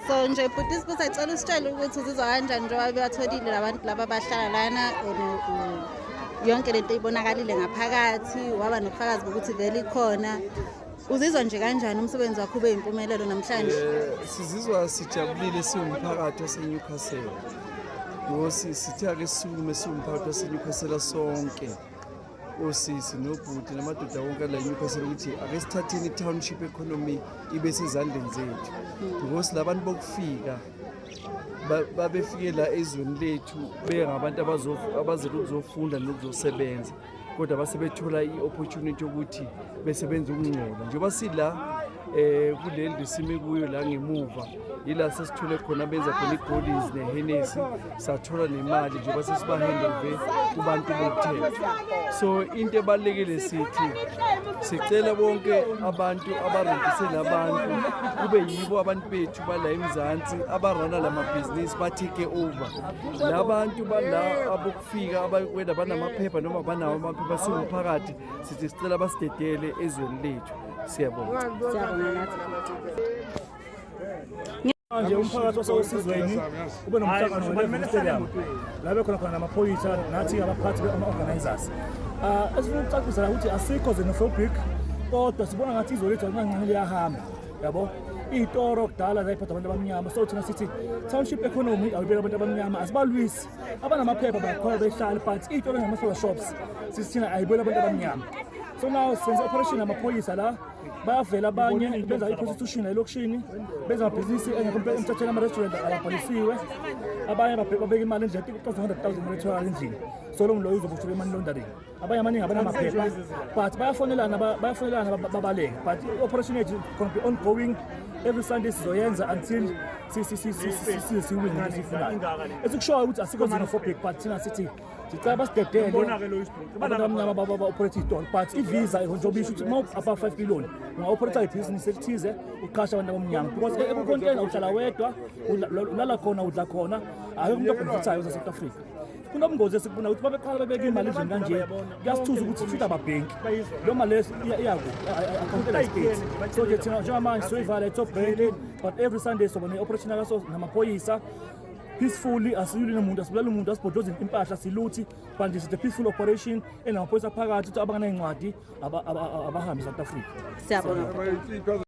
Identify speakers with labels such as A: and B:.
A: so nje bhuti isibuza cela usitshele ukuthi uzizwa kanjani njengoba bebatholile labantu laba bahlala lana yonke lento ibonakalile ngaphakathi waba nobufakazi bokuthi vele ikhona uzizwa nje kanjani umsebenzi wakho ube yimpumelelo namhlanje eh, sizizwa
B: sijabulile siwumphakathi waseNewcastle ngosi sithe ake sisukume siwumphakathi waseNewcastle sonke osisi nobhuti namadoda wonke la newcastle ukuthi ake sithatheni i-township economy ibe sezandleni zethu because la bantu bokufika babefike la ezweni lethu bengabantu abazele ukuzofunda nokuzosebenza kodwa base bethola i-opportunity yokuthi besebenze ukungcola njengoba sila eh kuleli lisime kuyo la ngemuva yila sesithole khona benza khona igoldies nehenesi sathola nemali njengoba sesibahandove kubantu bokuthela so into ebalulekile sithi sicela bonke abantu abarendisele abantu kube yibo abantu bethu bala emzansi abarana la mabhizinisi ba-take over la bantu bala abokufika abakwena banamaphepha noma banawo amaphepha siwumphakathi sithi sicela basidedele ezweni lethu Siyabonga.
C: Siyabonga nathi. Manje umphakathi osewesizweni ube nomhlangano weLevy Stadium la bekhona khona namaphoyisa nathi abaphathi ama-organisers um esifuna ukucacisa la ukuthi asikho xenophobic kodwa sibona ngathi izwe lethu alingancane liyahamba yabo iy'toro kudala zayiphatha abantu abamnyama so thina sithi township economy awuyibeka abantu abamnyama asibalwisi abanamaphepha bakhona behlale but iy'toro ngama-solar shops sisithina ayibeli abantu abamnyama so now senze operation amaphoyisa la bayavela abanye benza i-prostitution elokishini benza amabhizinisi engekho emthethweni ama-restaurant ababhalisiwe abanye babeka imali endlela kucoza 100 000 imali etholakala endlini so lo mloyo uzoboshwa be-money laundering abanye amaningi abanamaphepha but bayafonelana bayafonelana babaleke but i-operation yethu gonna be ongoing every sunday sizoyenza until siwine esifunayo esikushoyo ukuthi asikho xenophobic but thina sithi ndicela basidedele abantu abamnyama baoperator itolo but ivisa nje obisho ukuthi uma upha five million ungaoperator ibhizinisi elithize uqhasha abantu abamnyama because ekukontena uhlala wedwa ulala khona udla khona akekho umuntu obhenefithayo zasouth africa kunobungozi esikubona ukuthi babeqala babeke imali endlini kanje kuyasithuza ukuthi futhi ababhenki leyo mali iyakuakhawuntela istate so ke thina njengamanje soyivala itop bank but every sunday soba ne-operation yakaso namaphoyisa peacefully asiyuli nomuntu asibulali umuntu asibhodlozi impahla siluthi but is the peaceful operation enamaphoyisa aphakathi ukuthi abanganay'ncwadi abahambe
A: south
C: africa siyabona